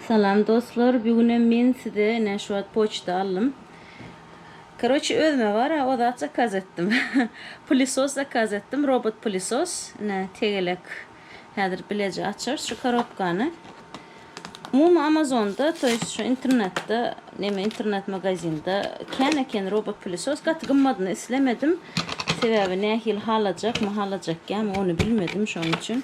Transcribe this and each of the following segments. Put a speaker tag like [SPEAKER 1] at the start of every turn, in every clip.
[SPEAKER 1] Salam dostlar bigünem men size ine şu wagt poçta aldym karoçe özüme bara o zat zakaz etdim pilisos zakaz etdim robot pilisos ine tegelek häzir bileje açarys şu karobkany umumy amazonda to ýest şu internetde neme internet magazinda kän eken robot pilisos gaty gymmadyny islemedim sebäbi nähili halajakmy halajakýamy ony bilmedim şonuň üçin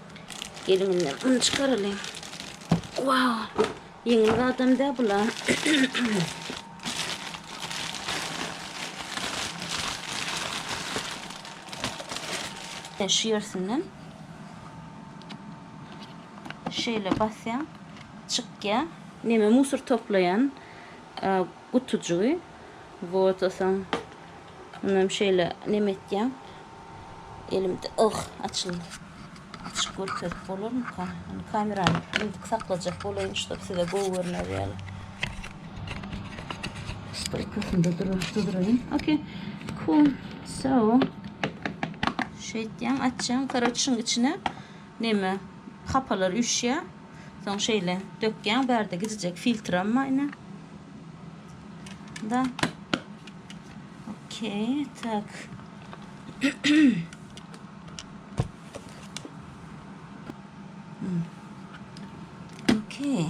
[SPEAKER 1] Gelininden un çykaralyň. Wow! Ýeňil gadam dä bula. Şu ýersinden şeýle basýaň, çykýar. Neme musor toplaýan gutujygy. Wot, osaň Munam şeýle neme etýän. Elimde ýyh açyldy. Açyp görkezip bolarmyka? Ony kamerany indik saklajak bolaýyn, ştob size gowy görner ýaly. Stoýkasynda durar, duraýyn. Okey. Cool. So. Şeýtýän, açýan. Karoç şuň içine Neme hapalar üşýä. Soň şeýle dökýäň bärde gijijek filtram bar ine. Da. Okey, tak. Okey.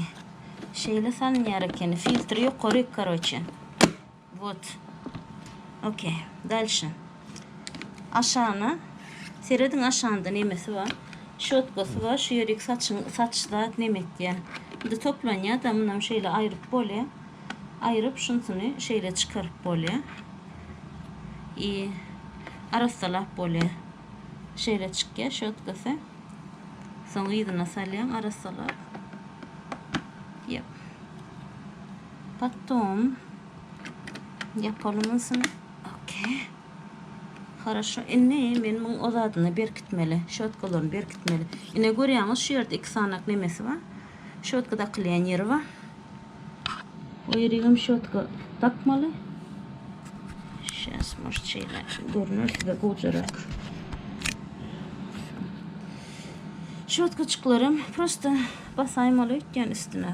[SPEAKER 1] Şeýle salynýar ekeni. Filtri ýokary, karoçe. Wot. Ok. Dalşe. Aşana. Serediň aşanda nemesi bar. Şotkasy bar. Şu ýerik saçyň saç zat neme etýä. Indi toplanýa da munam şeýle aýryp bolýa. Aýryp şunsyny şeýle çykaryp bolýa. I arassalap bolýa. Şeýle çykýa şotkasy. Soň yzyna salýaň arassalap. Ýep. Потом ýapalym ynsyny. Ok. Horoşo. Indi men muň o zadyny berkitmeli. Şotkalaryny berkitmeli. Ine görýäňiz, şu ýerde iki sanak nemesi bar. Şotka dakylýan ýeri bar. O ýeri hem şotka dakmaly. Şäs moş şeýle görner size gowjarak. Şotka çyklarym prosta basaýmaly öýtýän üstüne.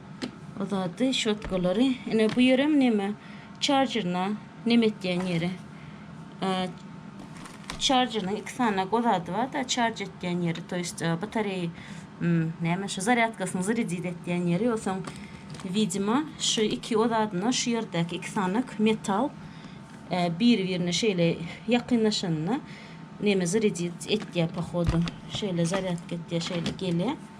[SPEAKER 1] Uzady şotkalary. Ine bu ýerem neme? Çarjeryna neme etýän ýeri. Çarjerynyň iki sany gozady bar-da, çarj etýän ýeri, to ýest batareýa hmm, näme şu zarýadkasyny zrydit etýän ýeri, ýogsam widima şu iki gozadyna şu ýerdäki iki sany metal e, biri-birine şeýle ýakynlaşanda neme zrydit etýär pohodu. Şeýle zarýadka etýär, şeýle gelýär.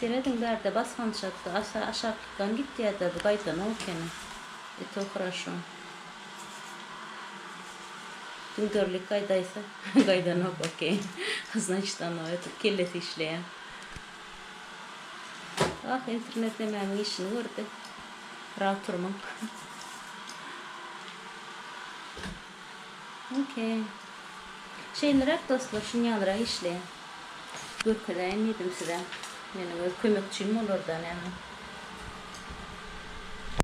[SPEAKER 1] Serediň bärde basganç atdy asa aşaklykdan gitýäda bu gaýdanok ekeni e to hraşo düňderlik gaýdaýsa gaýdanok okey znaçit ano etip kellesi işleýä. Ah internet hemmämiň işini gördi. Biraz turmyň. Okey. Şeýleräk dostlar şunýalyrak işleýän. Görkezäýin diýdim size. Meniň öz kömekçim bolardan ýaňa.